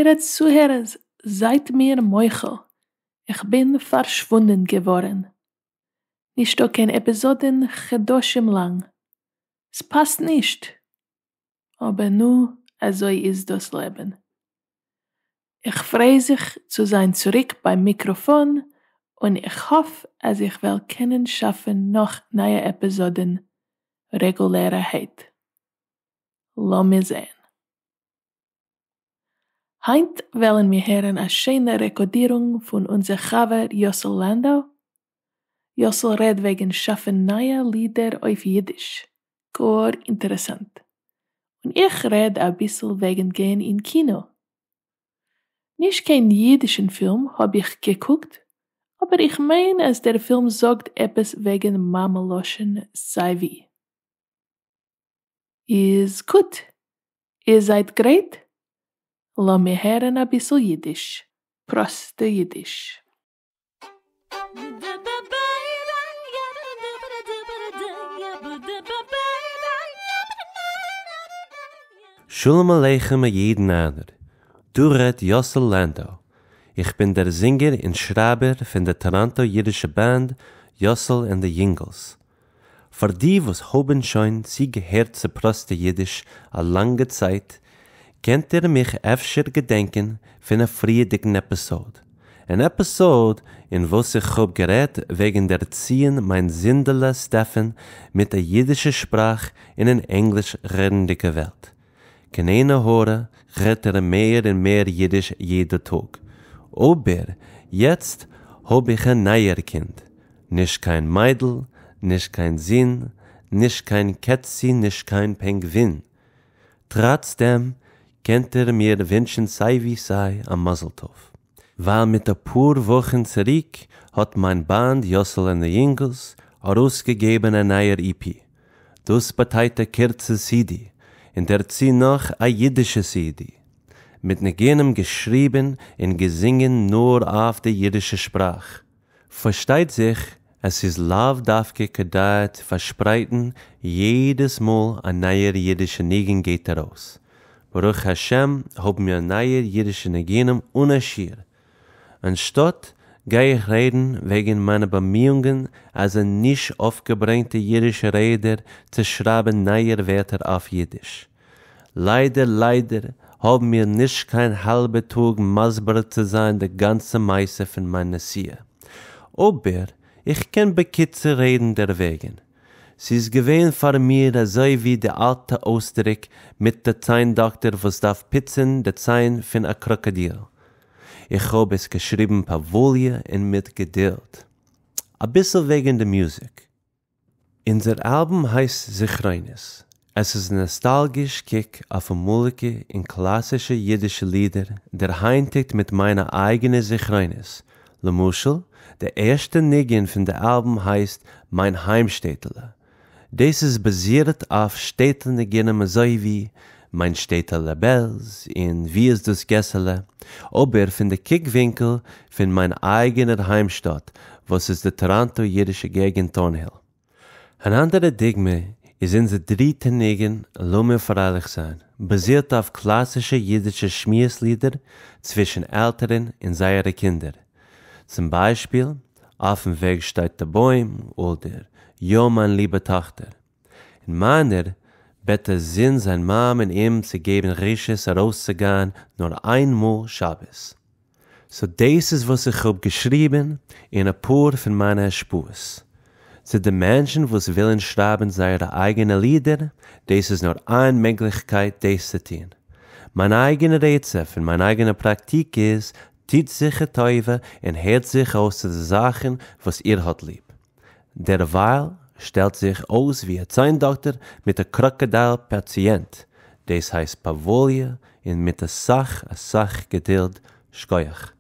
טייערע צוהערערס זייט מיר מוחל איך בין פארשוואונדען געווארען, נישטא קיין עפיזאדען חדשים לאנג, ס'פאסט נישט, אבער נא, אזוי איז דאס לעבן. איך פריי זיך צו זיין צוריק ביים מיקראפאן, און איך האף אז איך וועל קענען שאפן נאך נייע עפיזאדן רעגולערעהייט. לאמיר זען. היינט וועלן מיר הערן א שיינע רעקאדירונג פון אונזער חבר יוסל לאנדא, יוסל רעד וועגן שאפן נייע לידער אויף אידיש, גאר אינטערעסאנט, און איך רעד אביסל וועגן גיין אין קינא, נישט קיין אידישן פילם האב איך געקוקט, אבער איך מיין אז דער פילם זאגט עפעס וועגן מאמע לשון סיי ווי. איז גוט! איר זייט גרייט? לאמיר הערן אביסל אידיש, פראסטע אידיש. שלום עליכם א יעדן איינער, דא רעדט יאסל לענדאו, איך בין דער זינגער און שרייבער פון די טאראנטא אידישע באנד יאסל ענד די יונגעלס, פאר די וואס האבען שוין צו געהערט צו פראסטע אידיש א לאנגע צייט, קענט איר מיך אפשר געדענקען פון א פריעדיגן עפיסאוד, אן עפיסאוד אין וואס איך האב גערעדט וועגן ערציען מיין זונדעלע סטעפען מיט א אידישע שפראך אין אן ענגליש רעדנדיגע וועלט, קענענע הארע רעדט ער מער און מער אידיש יעדע טאג. אבער יעצט האב איך א נייער קינד, נישט קיין מיידל, נישט קיין זון, נישט קיין קעצי נישט קיין פענגווין. טראץ דעם קענט איר מיר ווינטשן סיי ווי סיי א מזל טוב. ווייל מיט אפאר וואכן צוריק האט מיין באנד יאסעלע נעיינגלס ארויסגעגעבן א נייער אי פי, דאס באטייט א קורצע סידי, און דערצו נאך א אידישע סידי, מיט ניגונים געשריבן און געזינגען נאר אויף די אידישע שפראך, פארשטייט זיך אז ס'איז לאו דווקא כדאי צו פארשפרייטן יעדעס מאל א נייער אידישע ניגון גייט ארויס, ברוך השם האבן מיר נייע אידישע ניגונים אן א שיעור, אנשטאט גיי איך רעדן וועגן מיינע באמיאונגען אז אין נישט אויפגעברענגטע אידישע רעדער צו שרייבן נייער ווערטער אויף אידיש. ליידער ליידער האבן מיר נישט קיין האלבע טאג מסביר צו זיין די גאנצע מעשה פון מיין נסיעה, אבער איך קען בקיצור רעדן דערוועגן. ס'איז געווען פאר מיר אזוי ווי די אלטע אויסדריק מיט די ציין דאקטער וואס דארף פיצן די ציין פון א קראקאדיל. איך האב עס געשריבן פאוואליע און מיט געדילד. אביסל וועגן די מוזיק. אונזער אלבום הייסט זכרונות, עס איז נאסטאלגיש קוק אויף אמאליגע און קלאסישע אידישע לידער דערהיינטיגט מיט מיינע אייגענע זכרונות, למשל די ערשטע ניגון פון די אלבום הייסט מיין היימשטעטעלע, דאס איז באזירט אויף שטעטל ניגונים אזוי ווי מיין שטעטעלע בעלז און ווי איז דאס געסעלע, אבער פון די קוק ווינקל פון מיין אייגענער היימשטאט וואס איז די טאראנטא אידישע געגענט טארנהיל. אן אנדערע דוגמא איז אונזער דריטע ניגון לאמיר פרייליך זיין, באזירט אויף קלאסישע אידישע שמועס לידער צווישן עלטערן און זייערע קינדער, צום ביישפיל אויפן וועג שטייט די בוים אדער יא מיין ליבע טאכטער. און מיינער בעט דער זון זיין מאמע און אים צו געבן רשות ארויסצוגיין נאר איין מאל שבת. סאו דאס איז וואס איך האב געשריבן אין אפאר פון מיינע השפעות. צו די מענטשן וואס ווילן שרייבן זייערע אייגענע לידער, דאס איז נאר איין מעגליכקייט דאס צו טון. מיין אייגענע רעצע פון מיין אייגענע פראקטיק איז, טוט זיך א טובה און הערט זיך אויס צו די זאכן וואס איר האט ליב. דערווייל שטעלט זיך אויס ווי א ציין דאקטער מיט א קראקאדייל פאציענט, דאס הייסט פאוואליע און מיט אסאך אסאך געדילד, שכוח.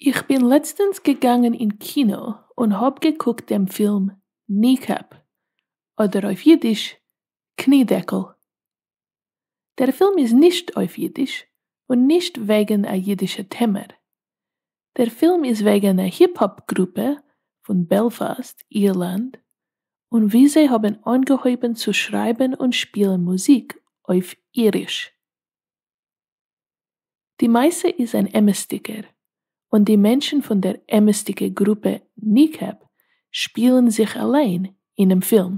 איך בין לעצטענס געגאנגען אין קינא און האב געקוקט דעם פילם Kneecap, אדער אויף אידיש קני דעקל, דער פילם איז נישט אויף אידיש און נישט וועגן א אידישע טעמער. דער פילם איז וועגן א היפ-האפ גרופע פון בעלפאסט, אירלאנד, און ווי זיי האבן אנגעהויבן צו שרייבן און שפילן מוזיק אויף איריש. די מעשה איז אן אמת'דיגער, און די מענטשן פון דער אמת'דיגע גרופע Kneecap שפילן זיך אליין אינעם פילם.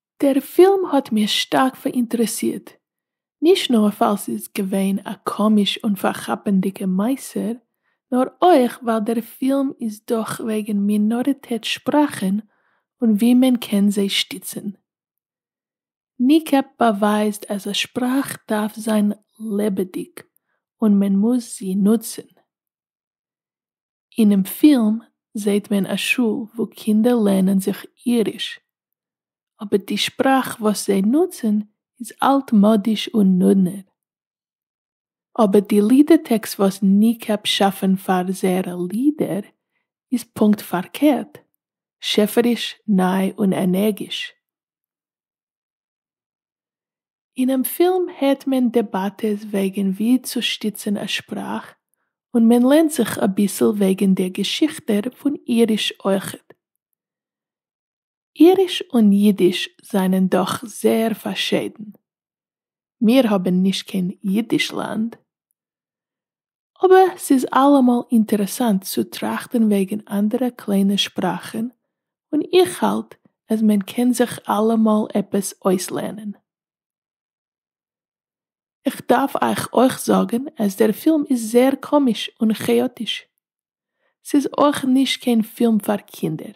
דער פילם האט מיר שטארק פאראינטערעסירט, נישט נאר ווייל ס'איז געווען א קאמיש און פארכאפענדיגע מעשה, נאר אויך ווייל דער פילם איז דאך וועגן מינאריטעט שפראכן און ווי מען קען זיי שטיצן. Kneecap באווייזט אז א שפראך דארף זיין לעבעדיג און מען מוז זי נוצן. אינעם פילם זעהט מען א שול וואו קינדער לערנען זיך איריש, אבער די שפראך וואס זיי נוצן איז אלט-מאדיש און נודנער. אבער די לידער-טעקסט וואס ניקעפ שאפן פאר זייערע לידער איז פונקט פארקערט, שעפעריש, ניי און ענערגיש. אינעם פילם הערט מען דעבאטעס וועגן ווי צו שטיצן א שפראך, און מען לערנט זיך אביסל וועגן דער געשיכטער פון איריש אויכעט. איריש און יידיש זענען דאך זעהר פארשיידן. מיר האבן נישט קיין יידישלאנד. אבער ס'איז אלעמאל אינטערעסאנט צו טראכטן וועגן אנדערע קליינע שפראכן, און איך האלט אז מען קען זיך אלעמאל עפעס אויסלערנען. איך דארף אייך אויך זאגן אז דער פילם איז זייער קאמיש און כאאטיש. ס'איז אויך נישט קיין פילם פאר קינדער.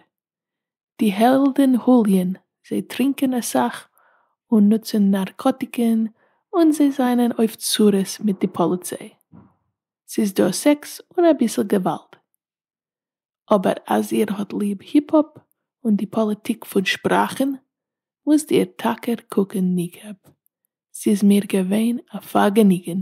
די העלדן הוליען, זיי טרינקען אסאך און נוצן נארקאטיקן און זיי זענען אויף צרות מיט די פאליציי. ס'איז דא סעקס און אביסל געוואלד. אבער אז איר האט ליב היפ-האפ און די פאליטיק פון שפראכן, מוזט איר טאקע קוקן ניקעפ. ס'איז מיר געווען א פארגעניגן.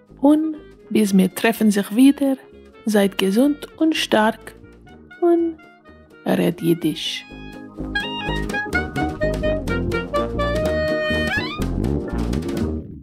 און ביז מיר טרעפן זיך ווידער, זייט געזונט און שטארק, און רעד אידיש.